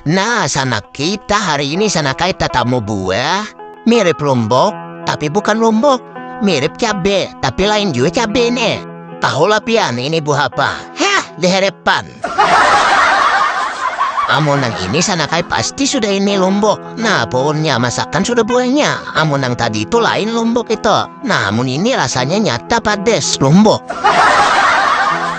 Nah, sanak kita hari ini sana kai tatamu buah mirip lombok, tapi bukan lombok. Mirip cabe, tapi lain juga cabe ini. Tahulah pian ini buah apa? Hah, diherepan. Amun nang ini sana kai pasti sudah ini lombok. Nah, pohonnya masakan sudah buahnya. Amun yang tadi itu lain lombok itu. Nah, amun ini rasanya nyata pades lombok.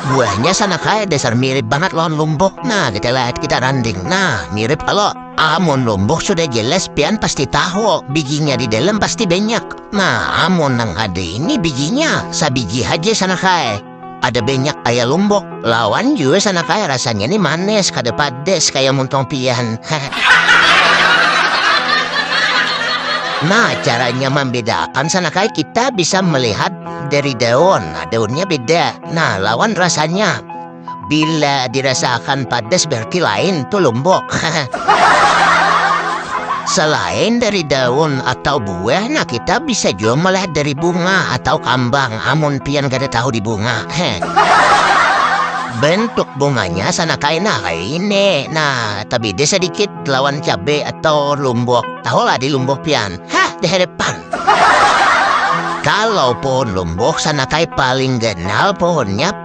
Buahnya sana kaya dasar mirip banget lawan lombok. Nah, kita lihat kita randing. Nah, mirip kalau amun lombok sudah jelas pian pasti tahu bijinya di dalam pasti banyak. Nah, amun yang ada ini bijinya sabiji aja sana kaya. Ada banyak kaya lombok lawan jua sana kaya rasanya nih manis kada pades kaya muntong pian. nah caranya membedakan sana kaya kita bisa melihat dari daun. Nah, daunnya beda. Nah lawan rasanya. Bila dirasakan padas berarti lain tuh lombok. Selain dari daun atau bu Weh nah kita bisa jua melihat dari bunga atau kambang amun pian kada tahu di bunga. Heh. Bentuk bunganya sana kaina kaini. Nah, tabida sedikit lawan cabe atau lumbok. Tahu lah di lumbok pian. Hah, di hadapan. Kalau pohon lumbok sana kai paling ganal pohonnya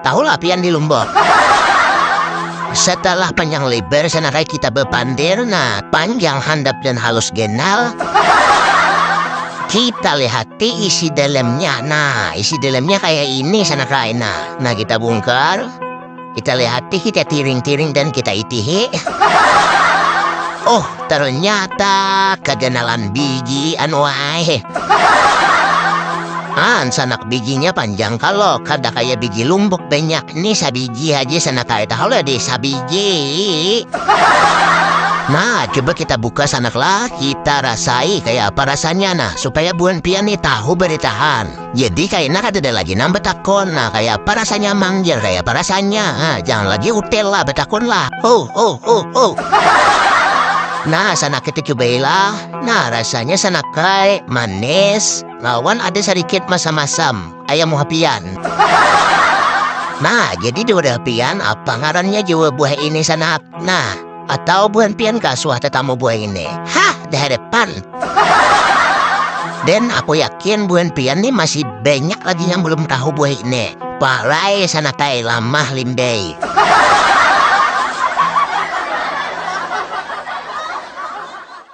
Tahulah pian di Lombok. Setelah panjang lebar sanakai kita bepander nah panjang handap dan halus genal. Kita lihati isi dalamnya. Nah, isi dalamnya kayak ini sanakai. Nah, nah kita bongkar. Kita lihati, kita tiring-tiring dan kita itihi. Oh, ternyata keganalan bigi anu ae ah sanak biginya panjang kalo kada kaya bigi lumbuk banyak nih sabigi aja sanak kaya tahu lah deh sabigi nah coba kita buka sanak lah kita rasai kaya apa rasanya nah supaya buan pian nih tahu beritahan Jadi kaina kadada lagi nang batakon, nah kaya apa rasanya mang jar kaya apa rasanya, ah jangan lagi utel lah batakon lah, huh huh huh huh. Nah sanaknya tu cubai lah, nah rasanya sanakai, manis, lawan ada sadikit masam masam, kaya muha pian. Nah jadi di wadah pian apa ngarannya jua buah ini sanak, nah. atau buhan pian ka suah tetamu buah ini hah dehadapan dan aku yakin buhan pian nih masih banyak lagi yang belum tahu buah ini pahlai sana kai lamah limbei